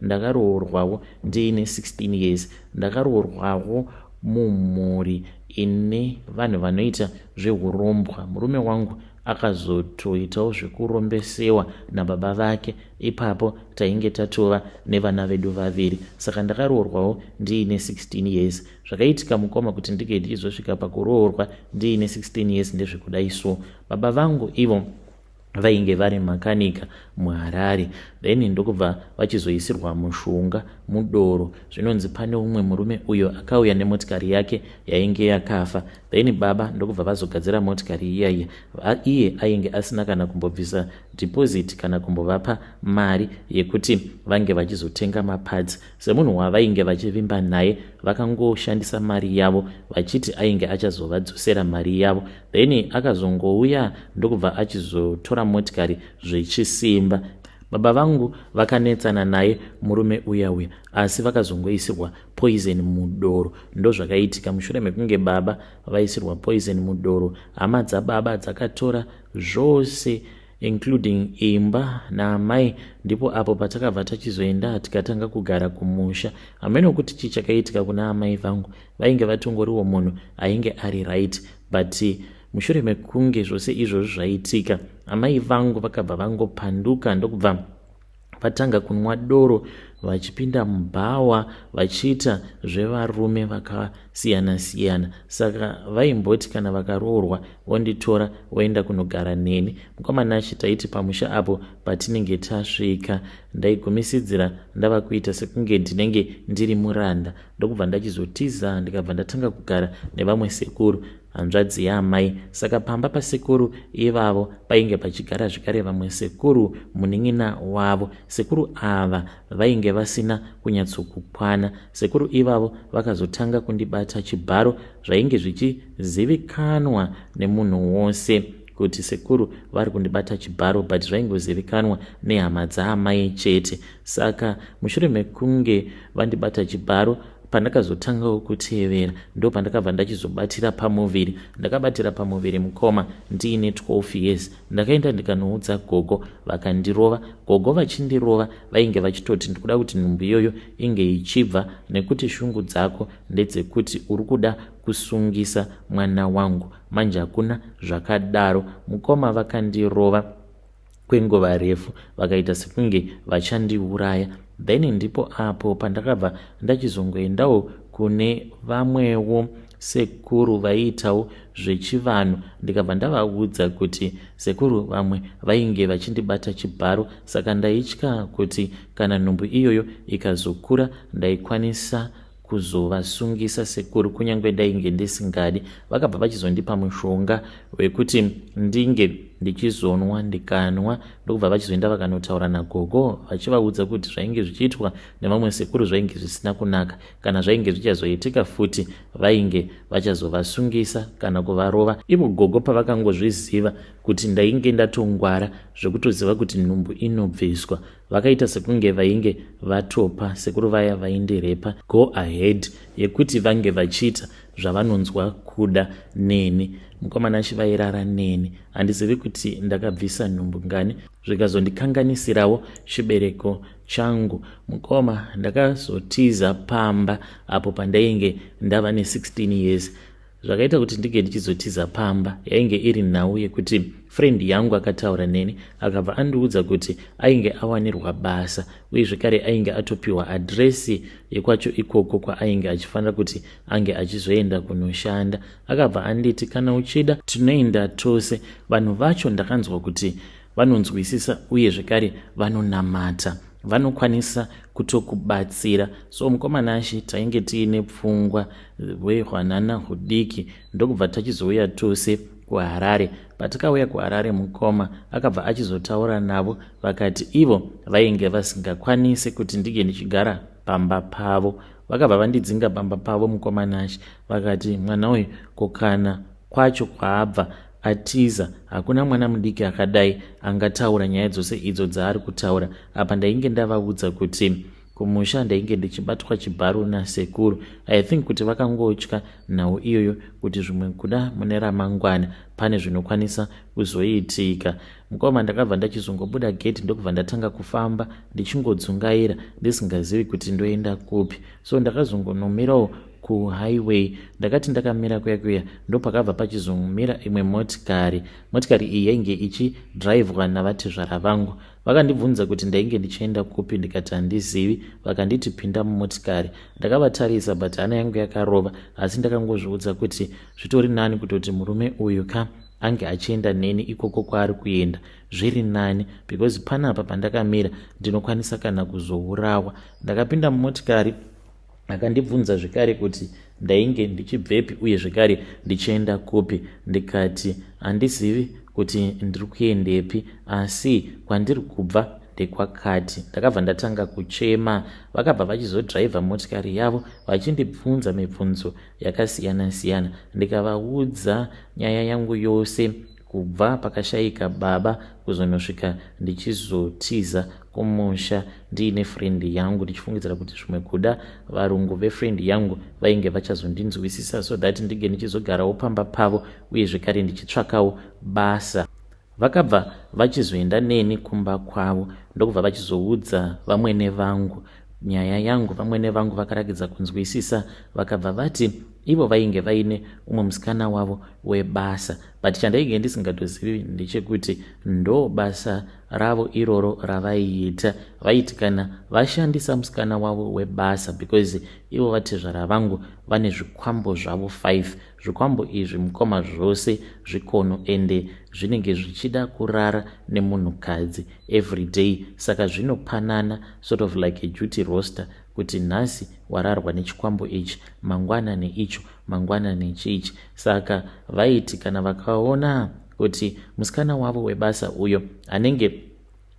Ndakaroorwawo ndiine 16 years. Ndakaroorwawo mumhuri ine vanhu vanoita zvehurombwa. Murume wangu akazotoitawo zvekurombesewa nababa vake. Ipapo tainge tatova nevana vedu vaviri. Saka ndakaroorwawo ndiine 16 years. Zvakaitika mukoma kuti ndinge ndichizosvika pakuroorwa ndiine 16 years ndezvekudai so. Baba vangu ivo vainge vari makanika muharare then ndokubva vachizoisirwa mushonga mudoro zvinonzi pane umwe murume uyo akauya nemotikari yake yainge yakafa then baba ndokubva vazogadzira motikari iyaiya iye ainge asina kana kumbobvisa deposit kana kumbovapa mari yekuti vange vachizotenga mapads semunhu wavainge vachivimba naye vakangoshandisa mari yavo vachiti ainge achazovadzosera mari yavo then akazongouya ndokubva achizotora motikari zvechisimba baba vangu vakanetsana naye murume uya uya asi vakazongoisirwa poison mudoro ndozvakaitika mushure mekunge baba vaisirwa poison mudoro hama dzababa dzakatora zvose including imba naamai ndipo apo patakabva tachizoenda tikatanga kugara kumusha hameno kuti chii chakaitika kuna amai vangu vainge vatongoriwo munhu ainge ari right but mushure mekunge zvose izvozvi zvaitika amai vangu vakabva vangopanduka ndokubva vatanga kunwa doro vachipinda mubhawa vachiita zvevarume vakasiyana siyana saka vaimboti kana vakaroorwa vonditora voenda kunogara neni mukwamanashe taiti pamusha apo patinenge tasvika ndaigumisidzira ndava kuita sekunge ndinenge ndiri muranda ndokubva ndachizotiza ndikabva ndatanga kugara nevamwe sekuru hanzvadzi yaamai saka pamba pasekuru ivavo painge pachigara zvekare vamwe sekuru munin'ina wavo sekuru ava vainge vasina kunyatsokukwana sekuru ivavo vakazotanga kundibata chibharo zvainge zvichizivikanwa nemunhu wose kuti sekuru vari kundibata chibharo but zvaingozivikanwa nehama dzaamai chete saka mushure mekunge vandibata chibharo pandakazotangawo kutevera ndo pandakabva ndachizobatira pamuviri ndakabatira pamuviri mukoma ndiine 12 years ndakaenda ndikanoudza gogo vakandirova gogo vachindirova vainge vachitoti ndikuda kuti nhumbu iyoyo inge ichibva nekuti shungu dzako ndedzekuti uri kuda kusungisa mwana wangu manje hakuna zvakadaro mukoma vakandirova kwenguva refu vakaita sekunge vachandiuraya then ndipo apo pandakabva ndachizongoendawo kune vamwewo sekuru vaiitawo zvechivanhu ndikabva ndavaudza kuti sekuru vamwe vainge vachindibata chibharo saka ndaitya kuti kana nhumbu iyoyo ikazokura ndaikwanisa kuzovasungisa sekuru kunyange ndainge ndisingadi vakabva vachizondipa mushonga wekuti ndinge ndichizonwa ndikanwa ndokubva vachizoenda vakanotaura nagogo vachivaudza kuti zvainge zvichiitwa nevamwe sekuru zvainge zvisina kunaka kana zvainge zvichazoitika futi vainge vachazovasungisa kana kuvarova ivo gogo pavakangozviziva kuti ndainge ndatongwara zvekutoziva kuti nhumbu inobviswa vakaita sekunge vainge vatopa sekuru vaya vaindirepa go ahead yekuti vange vachiita zvavanonzwa kuda neni mukomana chivairara neni handizivi kuti ndakabvisa nhumbu ngani zvikazondikanganisirawo chibereko changu mukoma ndakazotiza pamba apo pandainge ndava ne16 years zvakaita kuti ndinge ndichizotiza pamba yainge iri nhau yekuti friend yangu akataura neni akabva andiudza kuti ainge awanirwa basa uye zvekare ainge atopiwa adresi yekwacho ikoko kwaainge achifanira kuti ange achizoenda kunoshanda akabva anditi kana uchida tinoenda tose vanhu vacho ndakanzwa kuti vanonzwisisa uye zvekare vanonamata vanokwanisa kutokubatsira so mukoma nashe tainge tiine pfungwa hwehwanana hudiki ndokubva tachizouya tose kuharare patikauya kuharare mukoma akabva achizotaura navo vakati ivo vainge vasingakwanisi kuti ndinge ndichigara pamba pavo vakabva vandidzinga pamba pavo mukoma nashe vakati mwana uyu kokana kwacho kwaabva atiza hakuna mwana mudiki akadai angataura nyaya dzose idzo dzaari kutaura apa ndainge ndavaudza kuti kumusha ndainge ndichibatwa chibharo nasekuru i think kuti vakangotya nhau iyoyo kuti zvimwe kuda mune ramangwana pane zvinokwanisa kuzoitika mukoma ndakabva ndachizongobuda gate ndokubva ndatanga kufamba ndichingodzungaira ndisingazivi kuti ndoenda kupi so ndakazongonomirawo kuhighway ndakati ndakamira kuya kuya ndopakabva pachizomira imwe motikari motikari iyi yainge ichidrivwa navatezvara vangu vakandibvunza kuti ndainge ndichienda kupi ndikati handizivi vakanditi pinda mumotikari ndakavatarisa but hana yangu yakarova asi ndakangozviudza kuti zvitori nani kutoti murume uyu ka ange achienda neni ikoko kwaari kuenda zviri nani because panapa pandakamira ndinokwanisa kana kuzourawa ndakapinda mumotikari akandibvunza zvekare kuti ndainge ndichibvepi uye zvekare ndichienda kupi ndikati handizivi kuti ndiri kuendepi asi kwandiri kubva ndekwakati ndakabva ndatanga kuchema vakabva vachizodhraivha motikari yavo vachindibvunza mibvunzo yakasiyana siyana ndikavaudza nyaya yangu yose kubva pakashaika baba kuzonosvika ndichizotiza kumusha ndiine friend yangu ndichifungidzira kuti zvimwe kuda varungu vefriend yangu vainge vachazondinzwisisa so that ndinge ndichizogarawo pamba pavo uye zvekare ndichitsvakawo basa vakabva vachizoenda neni kumba kwavo ndokubva vachizoudza vamwene vangu nyaya yangu vamwene vangu vakarakidza kunzwisisa vakabva vati ivo vainge vaine umwe musikana wavo webasa but chandainge ndisingatozivi ndechekuti ndo basa ravo iroro ravaiita vaiti kana vashandisa musikana wavo webasa because ivo vatezvara vangu vane zvikwambo zvavo 5 Zvikwambo izvi mukoma zvose zvikono ende zvinenge zvichida kurara nemunhukadzi everyday saka zvinopanana sort of like a duty roster kuti nhasi wararwa nechikwambo ichi mangwana neicho mangwana nechiichi saka vaiti kana vakaona kuti musikana wavo webasa uyo anenge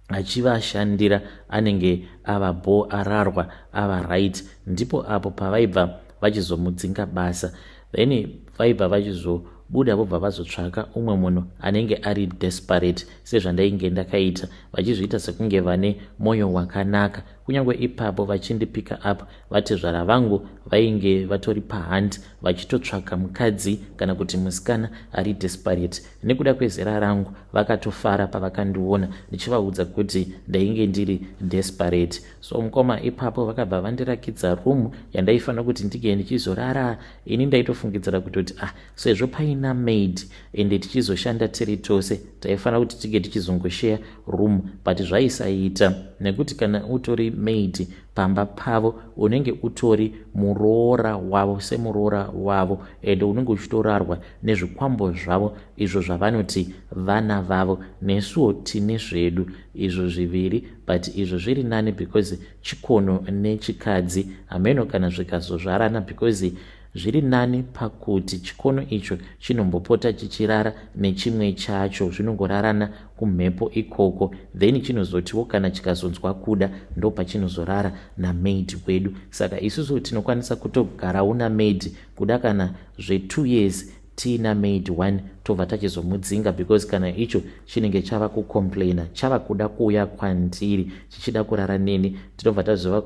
achivashandira anenge ava bho ararwa ava right ndipo apo pavaibva vachizomudzinga basa then vaibva vachizobuda vobva vazotsvaka umwe munhu anenge ari desperate sezvandainge ndakaita vachizviita sekunge vane mwoyo wakanaka kunyange ipapo vachindipika up vatezvara vangu vainge vatori pahand vachitotsvaka mukadzi kana kuti musikana ari desperate Nekuda kwezera rangu vakatofara pavakandiona ndichivaudza kuti ndainge ndiri desperate. So mukoma ipapo vakabva vandirakidza room yandaifanira kuti ndige ndichizorara. Ini ndaitofungidzira kutoti ah sezvo paina maid ende tichizoshanda tiri tose taifanira kuti tige tichizongosheya room but zvaisaita nekuti kana utori maid pamba pavo unenge utori muroora wavo semuroora wavo ende unenge uchitorarwa nezvikwambo zvavo izvo zvavanoti vana vavo nesuwo tine zvedu izvo zviviri but izvo zviri nani because chikono nechikadzi hameno kana zvikazozvarana because zviri nani pakuti chikono icho chinombopota chichirara nechimwe chacho zvinongorarana kumhepo ikoko then chinozotiwo kana chikazonzwa kuda ndopachinozorara namaid wedu saka isusu tinokwanisa kutogarawo namaid kuda kana zve two years tiina maid one tobva tachizomudzinga because kana icho chinenge chava kucomplaina chava kuda kuuya kwandiri chichida kurara neni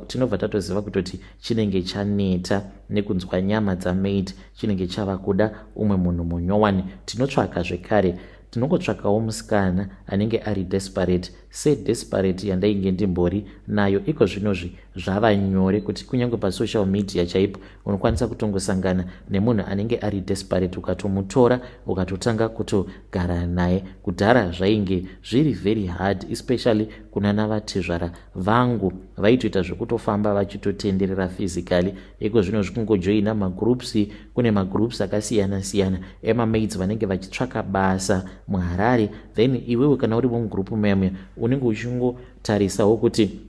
tinobva tatoziva kutoti chinenge chaneta nekunzwa nyama dzamaid chinenge chava kuda umwe munhu munyowani tinotsvaka zvekare tinongotsvakawo musikana anenge ari desperate Sedesperate yandainge ndimbori nayo iko zvinozvi zvava nyore kuti kunyange pasocial media chaipo unokwanisa kutongosangana nemunhu anenge ari desperate ukatomutora ukatotanga kutogara naye. Kudhara zvainge zviri very hard especially kunana vatezvara vangu vaitoita zvekutofamba vachitotenderera physically iko zvinozvi kungojoina magroups kune magroups akasiyana siyana emamaids vanenge vachitsvaka basa muharare then iwewe kana uri vomugroup muyamwe unenge uchingotarisawo kuti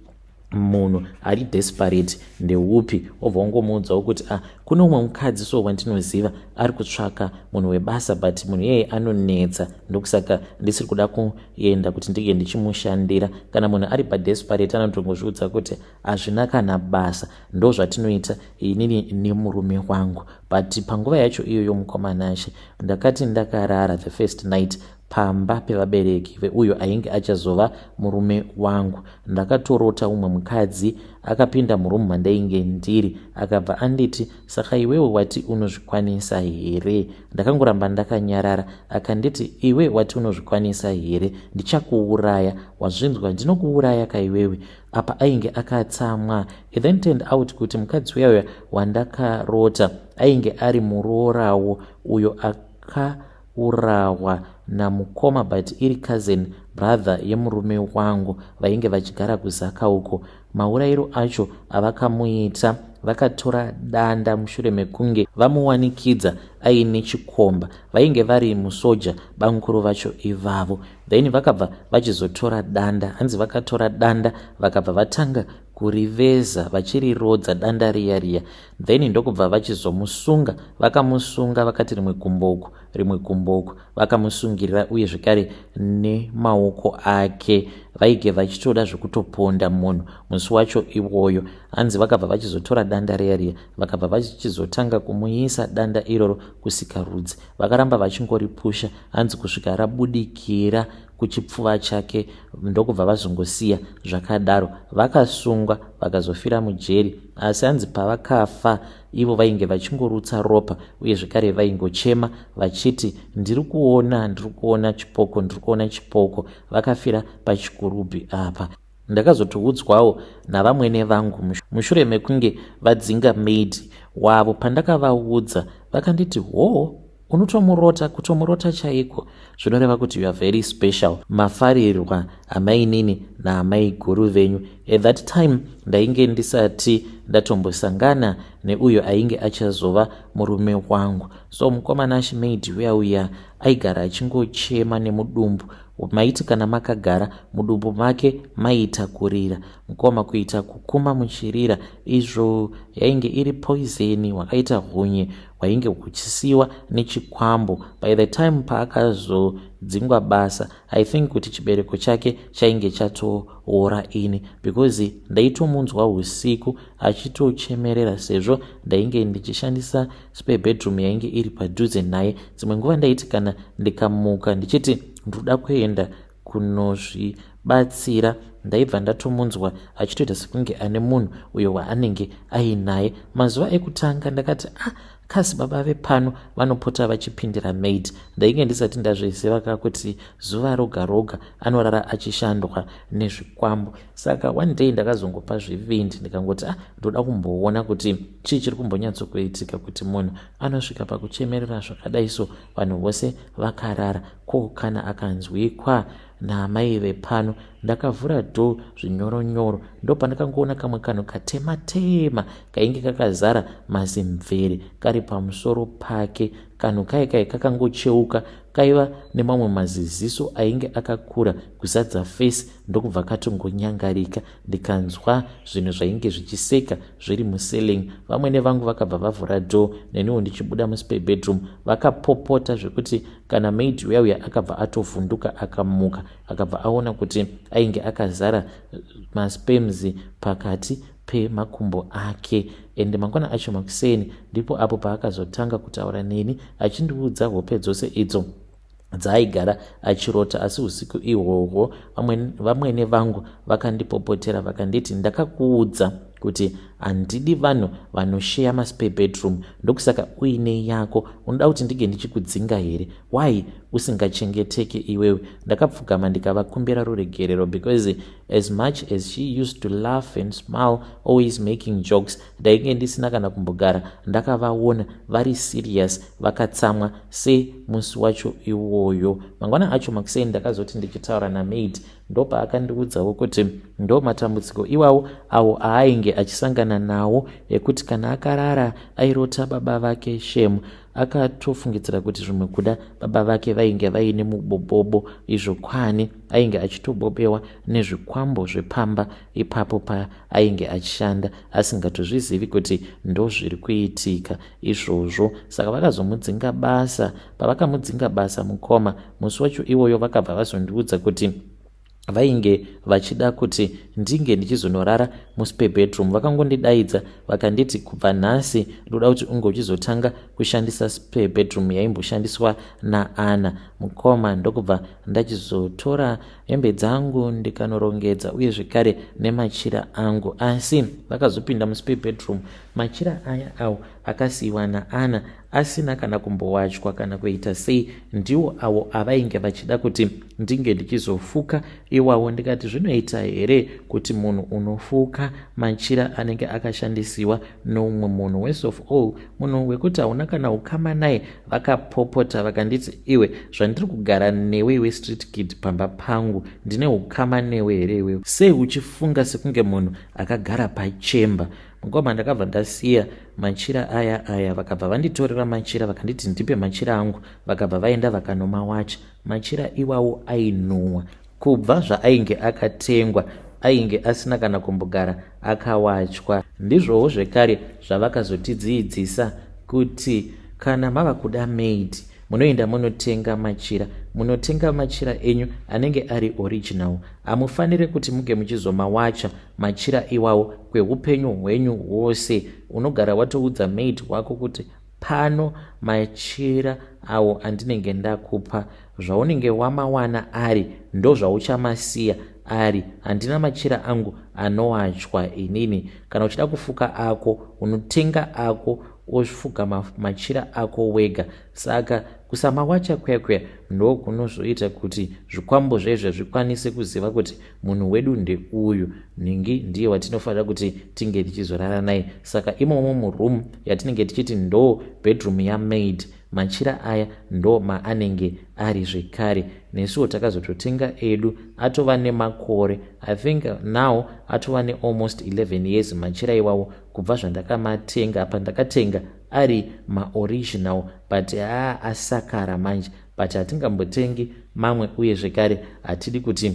munhu ari desperate ndeupi obva ungomuudzawo kuti ah kune umwe mukadzi so wandinoziva ari kutsvaka munhu webasa but munhu iyeye anonetsa ndokusaka ndisiri kuda kuenda kuti ndinge ndichimushandira kana munhu ari padesperate anotongozviudza kuti hazvina kana basa ndozvatinoita inini nemurume wangu but panguva yacho iyoyo mukomanashe ndakati ndakarara the first night pamba pevabereki veuyo ainge achazova murume wangu ndakatorota umwe mukadzi akapinda murumu mandainge ndiri akabva anditi saka iwewe wati unozvikwanisa here ndakangoramba ndakanyarara akanditi iwe wati unozvikwanisa here ndichakuuraya wazvinzwa ndinokuuraya kaiwewe apa ainge akatsamwa it then turned out kuti mukadzi uya uya wandakarota ainge ari muroorawo uyo akaurawa namukoma but iri cousin brother yemurume wangu vainge vachigara kuzaka uko maurairo acho avakamuita vakatora danda mushure mekunge vamuwanikidza aine chikomba vainge vari musoja bamukuru vacho ivavo then vakabva vachizotora danda hanzi vakatora danda vakabva vatanga kuriveza vachirirodza danda riya riya then ndokubva vachizomusunga vakamusunga vakati rimwe gumbo uku rimwe gumbo uku vakamusungirira uye zvekare nemaoko ake vaige vachitoda zvekutoponda munhu musi wacho iwoyo hanzi vakabva vachizotora danda riya riya vakabva vachizotanga kumuisa danda iroro kusikarudzi vakaramba vachingoripusha hanzi kusvika rabudikira kuchipfuva chake ndokubva vazongosiya zvakadaro vakasungwa vakazofira mujeri asi hanzi pavakafa ivo vainge vachingorutsa ropa uye zvekare vaingochema vachiti ndiri kuona ndiri kuona chipoko ndiri kuona chipoko vakafira pachikurubhi apa Ndakazotiudzwawo navamwene vangu mushure mekunge vadzinga maid wavo pandakavaudza vakanditi hoo unotomurota kutomurota chaiko zvinoreva kuti youare very special mafarirwa amainini naamai guru venyu at that time ndainge ndisati ndatombosangana neuyo ainge achazova murume wangu so mukomana shimaid uya uya aigara achingochema nemudumbu Maiti kana makagara mudumbu make maiita kurira mkoma kuita kukuma muchirira izvo yainge iri poizeni hwakaita hunye hwainge huchisiiwa nechikwambo by the time paakazodzingwa basa i think kuti chibereko chake chainge chatoora ini because ndaitomunzwa usiku achitochemerera sezvo ndainge ndichishandisa spare bedroom yainge iri padhuze naye dzimwe nguva ndaiti kana ndikamuka ndichiti ndoda kuenda kunozvibatsira ndaibva ndatomunzwa achitoita sekunge ane munhu uyo waanenge ainaye mazuva ekutanga ndakati ah kasi baba vepano vanopota vachipindira maid ndainge ndisati ndazviziva ka kuti zuva roga roga anorara achishandwa nezvikwambo saka one day ndakazongopa zvivindi ndikangoti ah ndoda kumboona kuti chii chiri kumbonyatsokuitika kuti munhu anosvika pakuchemerera zvakadai so vanhu vose vakarara ko kana akanzwikwa naamai vepano ndakavhura dho zvinyoronyoro ndopandakangoona kamwe kanhu katema tema kainge kakazara mazimvere kari pamusoro pake kanhu kai kai kakangocheuka kaiva nemamwe maziziso ainge akakura kuzadza face ndokubva katongonyangarika ndikanzwa zvinhu zvainge zvichiseka zviri muselling vamwene vangu vakabva vavhura door neniwo ndichibuda muspe bedroom vakapopota zvekuti kana maid uya uya akabva atovhunduka akamuka akabva aona kuti ainge akazara maspems pakati pemakumbo ake ende mangwana acho makuseni ndipo apo paakazotanga kutaura neni achindiudza hope dzose idzo dzaaigara achirota asi usiku ihwohwo vamwene vangu vakandipopotera vakanditi ndakakuudza kuti handidi vanhu vanosheya maspare bedroom ndokusaka uine yako unoda kuti ndinge ndichikudzinga here why usingachengeteke iwewe ndakapfugama ndikavakumbira ruregerero because as much as she used to laugh and smile always making jokes ndainge ndisina kana kumbogara ndakavaona vari serious vakatsamwa se musi wacho iwoyo mangwana acho makuseni ndakazoti ndichitaura namaid ndopaakandiudzawo kuti ndo matambudziko iwawo awo aainge achisangana nawo ekuti kana akarara airota baba vake shem akatofungidzira kuti zvimwe kuda baba vake vainge vaine mubobobo izvo kwani ainge achitobobewa nezvikwambo zvepamba ipapo paainge achishanda asingatozvizivi kuti ndozviri kuitika izvozvo saka vakazomudzinga basa pavakamudzinga basa mukoma musi wacho iwoyo vakabva vazondiudza kuti vainge vachida kuti ndinge ndichizonorara muspe bedroom vakangondidaidza vakanditi kubva nhasi ndoda kuti unge uchizotanga kushandisa spe bedroom yaimboshandiswa naana mukoma ndokubva ndachizotora hembe dzangu ndikanorongedza uye zvekare nemachira angu asi vakazopinda musipe bedroom machira aya awo akasiyiwa naana asina kana kumbowachwa kana kuita sei ndiwo awo avainge vachida kuti ndinge ndichizofuka iwawo ndikati zvinoita here kuti munhu unofuka machira anenge akashandisiwa noumwe munhu worse of all munhu wekuti hauna kana ukama naye vakapopota vakanditi iwe zvandiri kugara newe iwe street kid pamba pangu ndine ukama newe here iwewe sei uchifunga sekunge munhu akagara pachemba mukoma ndakabva ndasiya machira aya aya vakabva vanditorera machira vakanditi ndipe machira angu vakabva vaenda vakanomawacha machira iwawo ainhuwa Kubva zvaainge akatengwa ainge asina kana kumbogara akawachwa. Ndizvowo zvekare zvavakazotidziidzisa kuti kana mava kuda maid munoenda munotenga machira munotenga machira enyu anenge ari original hamufanire kuti muge muchizomawacha machira iwawo kweupenyu hwenyu hwose unogara watoudza maid wako kuti Pano matyira awo andinenge ndakupa zvaunenge wamawana ari ndozvauchamasiya ari handina matyira angu anowatywa inini kana uchida kufuka ako unotenga ako ofuga matyira ako wega saka kusamawatya kuya kuya ndokunozoita kuti zvikwambo zvaizvo zvikwanise kuziva kuti munhu wedu ndeuyu nhingi ndiye watinofanira kuti tinge tichizorara naye saka imomo muroom yatinenge tichiti ndo bedroom yamaid machira aya ndo maanenge ari zvekare nesuwo takazototenga edu atova nemakore i think now atova nealmost 11 years machira iwawo kubva zvandakamatenga pandakatenga ari maoriginal but haa asakara manje but hatingambotengi mamwe uye zvekare hatidi kuti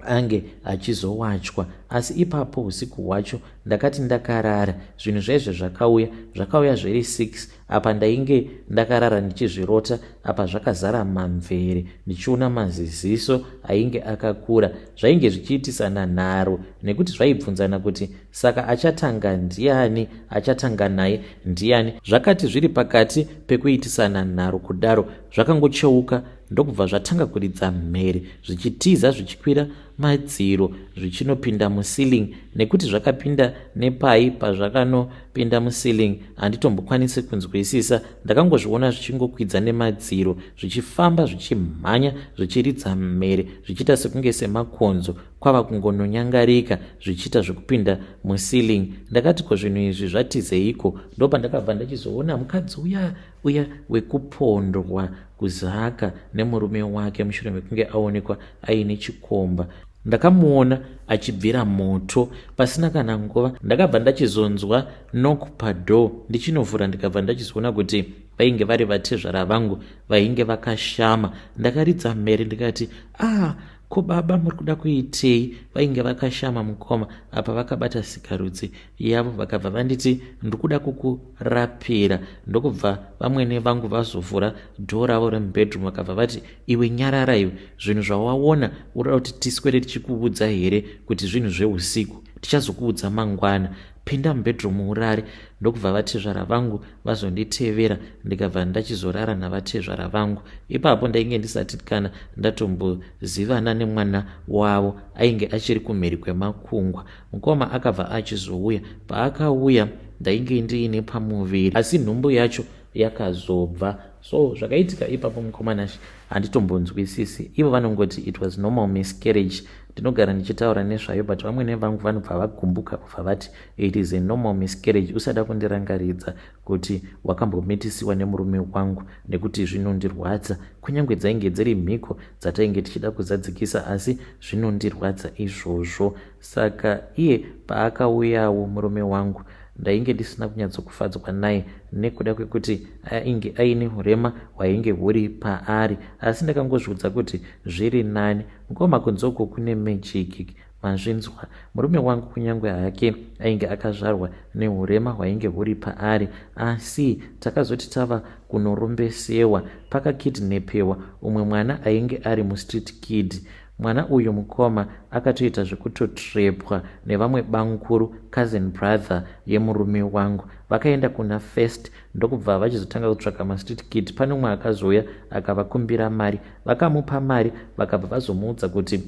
ange achizowachwa asi ipapo usiku hwacho ndakati ndakarara zvinhu zvaizve zvakauya zvakauya zviri 6 apa ndainge ndakarara ndichizvirota apa zvakazara mamvere ndichiona maziziso ainge akakura zvainge zvichiitisana nharo nekuti zvaibvunzana kuti Saka achatanga ndiani? Achatanga naye ndiani? Zvakati zviri pakati pekuitisana nharo kudaro, zvakangocheuka ndokubva zvatanga kuridza mhere zvichitiza zvichikwira madziro zvichinopinda muceiling nekuti zvakapinda nepai pazvakanopinda muceiling handitombokwanisi kunzwisisa ndakangozviona zvichingokwidza nemadziro zvichifamba zvichimhanya zvichiridza mhere zvichiita sekunge semakonzo kwava kungononyangarika zvichiita zvekupinda muceiling ndakati ko zvinhu izvi zvatizeiko ndopandakabva ndachizoona mukadzi uya uya wekupondwa kuzaka nemurume wake mushure mekunge aonekwa aine chikomba ndakamuona achibvira moto pasina kana nguva ndakabva ndachizonzwa nok padoor ndichinovhura ndikabva ndachizoona kuti vainge vari vatezvara vangu vainge vakashama ndakaridza mhere ndikati ah Ko baba muri kuda kuitei? Vainge vakashama mukoma apa vakabata sikarudzi yavo vakabva vanditi ndiri kuda kukurapira ndokubva vamwene vangu vazovhura dhoo ravo remubedroom vakabva vati iwe nyarara iwe zvinhu zvawaona unoda kuti tiswere tichikuudza here kuti zvinhu zveusiku tichazokuudza mangwana pinda mubedroom urare ndokubva vatezvara vangu vazonditevera ndikabva ndachizorara navatezvara vangu ipapo ndainge ndisati kana ndatombozivana nemwana wavo ainge achiri kumhiri kwemakungwa mukoma akabva achizouya paakauya ndainge ndiine pamuviri asi nhumbu yacho yakazobva so zvakaitika ipapo mukoma nashe handitombonzwisisi ivo vanongoti it was normal miscarriage ndinogara ndichitaura nezvayo but vamwene vangu vanobva vagumbuka kubva vati it is a normal miscarriage usada kundirangaridza kuti wakambomitisiwa nemurume wangu nekuti zvinondirwadza kunyange dzainge dziri mhiko dzatainge tichida kuzadzikisa asi zvinondirwadza izvozvo saka iye paakauyawo murume wangu ndainge ndisina kunyatsokufadzwa naye nekuda kwekuti ainge aine urema hwainge huri paari asi ndakangozviudza kuti zviri nani Mkoma kunze uko kune magic manzvinzwa. Murume wangu kunyange hake ainge akazvarwa nehurema hwainge huri paari asi takazoti tava kunorombesewa pakakidnepewa umwe mwana ainge ari mustreet kid mwana uyu mukoma akatoita zvekutotrepwa nevamwe bamkuru cousin brother yemurume wangu vakaenda kuna first ndokubva vachizotanga kutsvaka mastreet kid pane umwe akazouya akavakumbira mari vakamupa mari vakabva vazomuudza kuti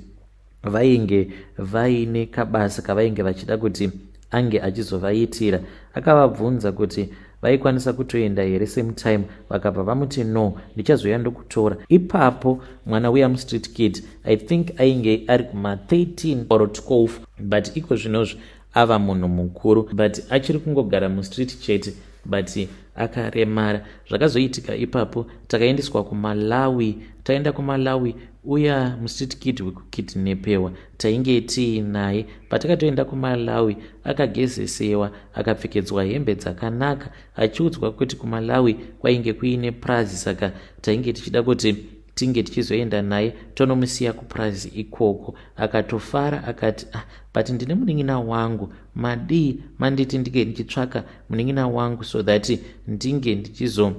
vainge vaine kabasa kavainge vachida kuti ange achizovaitira akavabvunza kuti vaikwanisa kutoenda here same time vakabva vamuti no ndichazoya ndokutora ipapo mwana uya mustreet kid i think ainge ari kuma 13 or 12 but iko zvinozvi ava munhu mukuru but achiri kungogara mustreet chete but akaremara zvakazoitika ipapo takaendeswa kumalawi taenda kumalawi uya mustreet kid wekukidnepewa tainge tiinaye patakatoenda kumalawi akagezesewa akapfekedzwa hembe dzakanaka achiudzwa kuti kumalawi kwainge kuine prazi saka tainge tichida kuti tinge tichizoenda naye tonomusiya kupurazi ikoko akatofara akati ah but ndine munin'ina wangu madii manditi ndinge ndichitsvaka munin'ina wangu so that ndinge ndichizo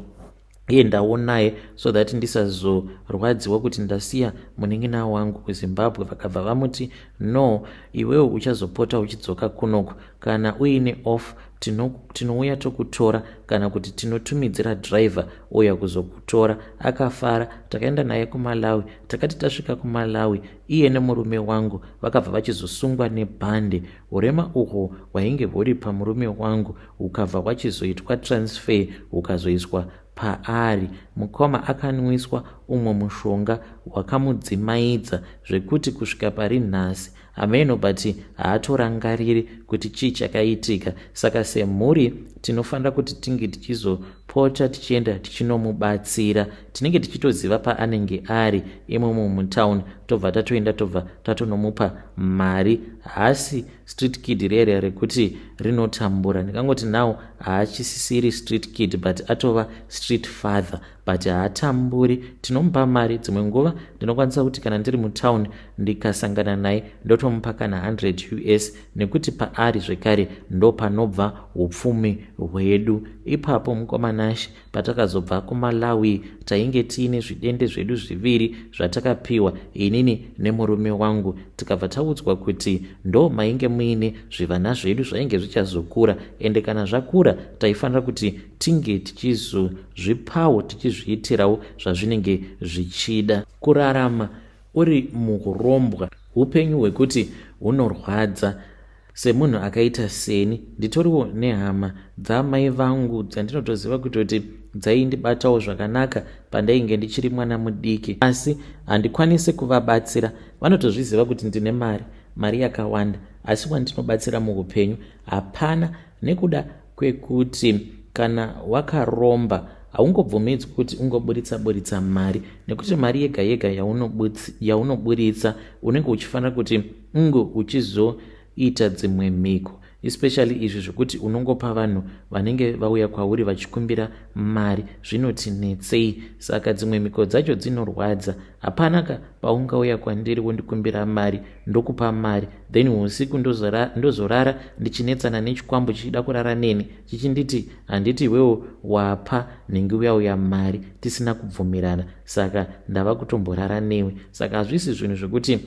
endawo naye so that ndisazorwadziwa kuti ndasiya munin'ina wangu kuzimbabwe vakabva vamuti no iwewo uchazopota uchidzoka kunoku kana uine off tinouya tokutora kana kuti tinotumidzira driver ouya kuzokutora akafara takaenda naye kumalawi takati tasvika kumalawi iye nemurume wangu vakabva vachizosungwa nebhande urema uhwo hwainge huri pamurume wangu hukabva hwachizoitwa transfer hukazoiswa paari mukoma akanwiswa umwe mushonga wakamudzimaidza zvekuti kusvika pari nhasi hameno but haatorangariri kuti chii chakaitika saka semhuri tinofanira kuti tinge tichizopota tichienda tichinomubatsira tinenge tichitoziva paanenge ari imomo mutown tobva tatoenda tobva tatonomupa mari hasi street kid rere rekuti rinotambura ndikangoti now haachisisiri street kid but atova street father but haatamburi tinomupa mari dzimwe nguva ndinokwanisa kuti kana ndiri mutown ndikasangana naye ndotomupa kana 100 us nekuti paari zvekare ndopanobva upfumi hwedu ipapo mukomanashi patakazobva kumalawi tainge tiine zvidende zvedu zviviri zvatakapiwa inini nemurume wangu tikabva taudzwa kuti ndo mainge muine zvivana zvedu zvainge zvichazokura ende kana zvakura taifanira kuti tinge tichizozvipawo tichizviitirawo zvazvinenge zvichida kurarama uri muhurombwa upenyu hwekuti hunorwadza semunhu akaita seni nditoriwo nehama dzamai vangu dzandinotoziva kutoti dzaindibatawo zvakanaka pandainge ndichiri mwana mudiki asi handikwanisi kuvabatsira vanotozviziva kuti ndine mari mari yakawanda asi wandinobatsira muupenyu hapana nekuda kwekuti kana wakaromba haungobvumidzwi kuti ungoburitsa buritsa mari nekuti mari yega yega yaunoburitsa unenge uchifanira kuti unge uchizoita dzimwe mhiko especially izvi zvekuti unongopa vanhu vanenge vauya kwauri vachikumbira mari zvinoti netsei saka dzimwe mhiko dzacho dzinorwadza hapanaka paungauya kwandiri wondikumbira mari ndokupa mari then usiku ndozorara, ndozorara ndichinetsana nechikwambo chichida kurara neni chichinditi handiti iwewo wapa nhingi uya uya mari tisina kubvumirana saka ndava kutomborara newe saka hazvisi zvinhu zvekuti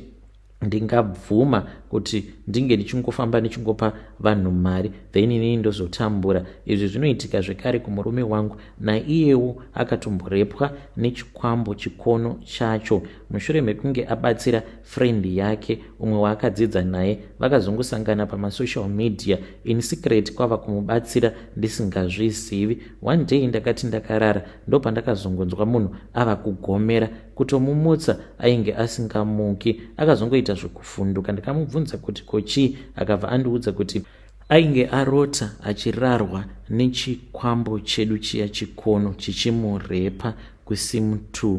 ndingabvuma kuti ndinge ndichingofamba ndichingopa vanhu mari then inini ndozotambura izvi zvinoitika zvekare kumurume wangu naiyewo akatomborepwa nechikwambo chikono chacho mushure mekunge abatsira friend yake umwe waakadzidza naye vakazongosangana pamasocial media in secret kwava kumubatsira ndisingazvizivi one day ndakati ndakarara ndopandakazongonzwa munhu ava kugomera kutomumutsa ainge asingamuki akazongoita zvekuvhunduka ndikamubvunza kuti kochii akabva andiudza kuti ainge arota achirarwa nechikwambo chedu chiya chikono chichimurepa kusim2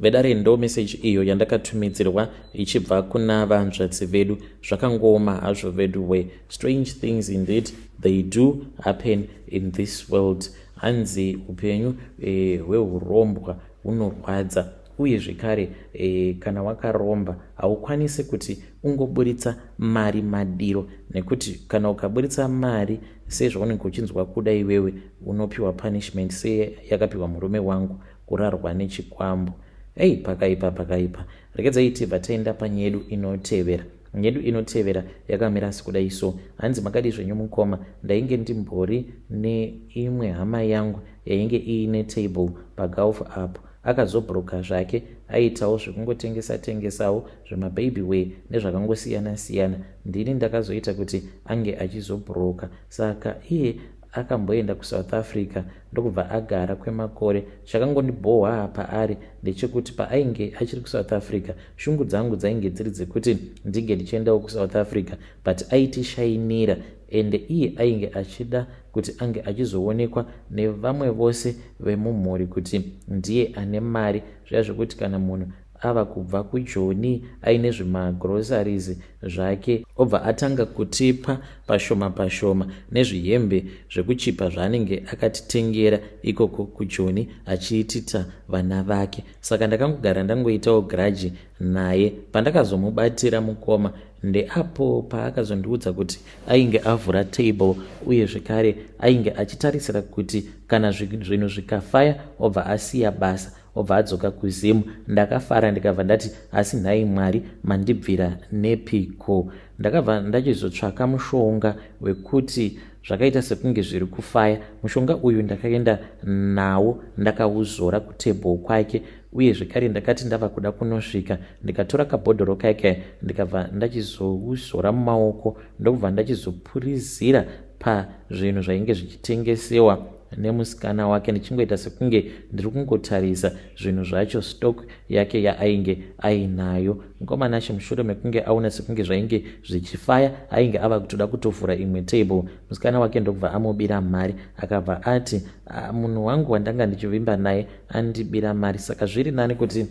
Vedare ndo message iyo yandakatumidzirwa ichibva kuna vanzvadzi vedu zvakangooma hazvo vedu we strange things indeed they do happen in this world hanzi upenyu eh, hwehurombwa hunorwadza uye zvekare eh, kana wakaromba haukwanisi kuti ungoburitsa mari madiro nekuti kana ukaburitsa mari sezvaunenge uchinzwa kuda iwewe unopiwa punishment seyakapiwa murume wangu kurarwa nechikwambo ei pakaipa pakaipa rekedzai tibva taenda panyedu inotevera nyedu inotevera yakamira sikudai so hanzi makadii zvenyu mukoma ndainge ndimbori neimwe hama yangu yainge iine table pagulf apo akazobroka zvake aitawo zvekungotengesa tengesawo zvemababy way nezvakangosiyana siyana ndini ndakazoita kuti ange achizobroka saka iye akamboenda kusouth africa ndokubva agara kwemakore chakangondibhohwaa paari ndechekuti paainge achiri kusouth africa shungu dzangu dzainge dziri dzekuti ndinge ndichiendawo kusouth africa but aitishainira ende iye ainge achida kuti ange achizoonekwa nevamwe vose vemumhuri kuti ndiye ane mari zviya zvekuti kana munhu ava kubva kujoni aine zvimagroceries zvake obva atanga kutipa pashoma pashoma nezvihembe zvekuchipa zvaanenge akatitengera ikoko kujoni achiitita vana vake saka ndakangogara ndangoitawo graji naye pandakazomubatira mukoma ndeapo paakazondiudza kuti ainge avhura table uye zvekare ainge achitarisira kuti kana zvinhu zvikafaya obva asiya basa obva adzoka kuzim ndakafara ndikabva ndati asi nhai mwari mandibvira nepiko ndakabva ndachizotsvaka mushonga wekuti zvakaita sekunge zviri kufaya mushonga uyu ndakaenda nawo ndakauzora kutable kwake uye zvekare ndakati ndava kuda kunosvika ndikatora kabhodhoro kake ndikabva ndachizouzora mumaoko ndokubva ndachizopurizira pazvinhu zvainge zvichitengesewa nemusikana wake ndichingoita sekunge ndiri kungotarisa zvinhu zvacho stock yake yaainge ainayo mukomanashe mushure mekunge aona sekunge zvainge zvichifaya ainge ava kutoda kutovhura imwe table musikana wake ndokubva amubira mari akabva ati ah, munhu wangu wandanga ndichivimba naye andibira mari saka zviri nani kuti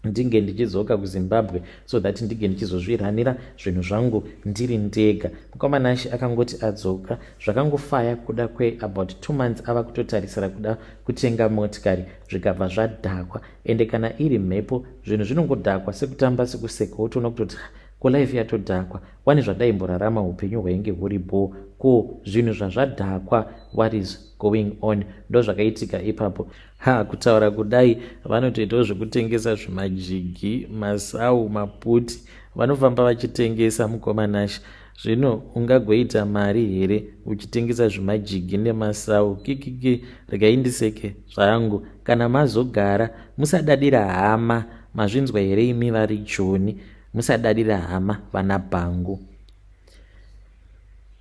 ndinge ndichidzoka kuzimbabwe so that ndinge ndichizozviranira zvinhu zvangu ndiri ndega mukoma nashe akangoti adzoka zvakangofaya kuda kweabout two months ava kutotarisira kuda kutenga motikari zvikabva zvadhakwa ende kana iri mhepo zvinhu zvinongodhakwa sekutamba sekuseka wotoona kutoti ko life yatodhakwa wani zvadaimborarama upenyu hwainge huri bhoo ko zvinhu zvazvadhakwa what is going on ndozvakaitika ipapo Ha, kutaura kudai vanotoitawo zvekutengesa zvimajigi, masau, maputi. Vanofamba vachitengesa mukoma Nash. Zvino ungagoita mari here uchitengesa zvimajigi nemasau? Kikiki, regai ndiseke zvangu. Kana mazogara, musadadira hama. Mazvinzwa here imi vari Joni? Musadadira hama vana bhangu.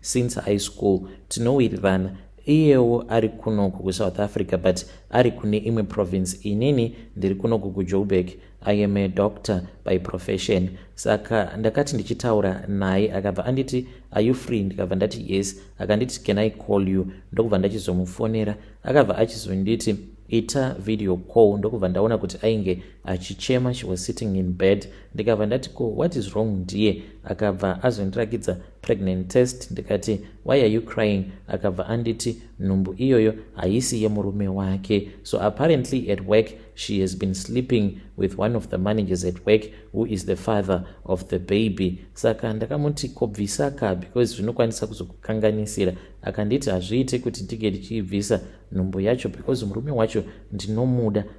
since high school tinowirirana iyewo ari kunoku kusouth africa but ari kune imwe province inini ndiri kunoku kujoburg i am a doctor by profession saka ndakati ndichitaura naye akabva anditi are you free ndikabva ndati yes akanditi can i call you ndokubva ndachizomufonera akabva achizonditi ita video call ndokubva ndaona kuti ainge achichema she was sitting in bed ndikabva ndati ko what is wrong ndiye akabva azondirakidza pregnant test ndikati why are you crying akabva anditi nhumbu iyoyo haisi yemurume wake so apparently at work she has been sleeping with one of the managers at work who is the father of the baby saka ndakamuti kobvisa ka because zvinokwanisa kuzokukanganisira akanditi hazviite kuti ndinge ndichiibvisa nhumbu yacho because murume wacho ndinomuda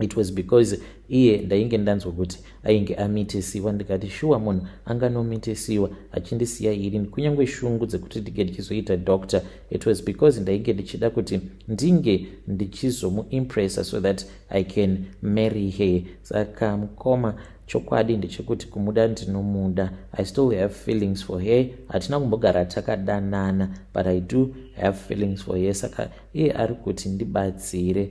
it was because iye ndainge ndanzwa kuti ainge amitisiwa ndikati shuwa munhu anganomitisiwa achindisiya irini kunyange shungu dzekuti ndinge ndichizoita doctor it was because ndainge ndichida kuti ndinge ndichizomuimpressa so that i can marry her saka mukoma chokwadi ndechekuti kumuda ndinomuda i still have feelings for her hatina kumbogara takadanana but i do have feelings for her saka iye ari kuti ndibatsire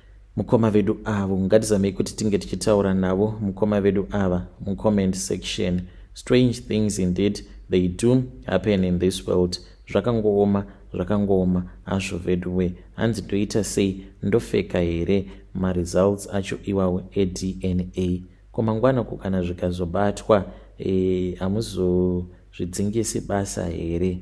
mukoma vedu avo ngatizamei kuti tinge tichitaura navo mukoma vedu ava mucomment section strange things indeed they do happen in this world zvakangooma zvakangooma azvo veduwe hanzi ndoita sei ndofeka here maresults acho iwawo edna ko mangwana ko kana zvikazobatwa eh, hamuzozvidzingisi e, basa here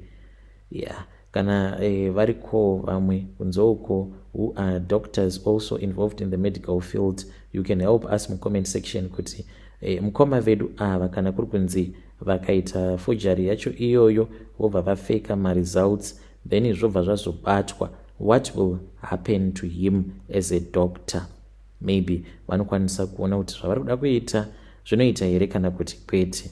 ya yeah. kana eh, variko vamwe kunze uko who are doctors also involved in the medical field you can help us mucomment section kuti eh, mukoma vedu ava kana kuri kunzi vakaita fojari yacho iyoyo vobva vafeka maresults then zvobva zvazobatwa what will happen to him as a doctor maybe vanokwanisa kuona kuti zvavari kuda kuita zvinoita here kana kuti kwete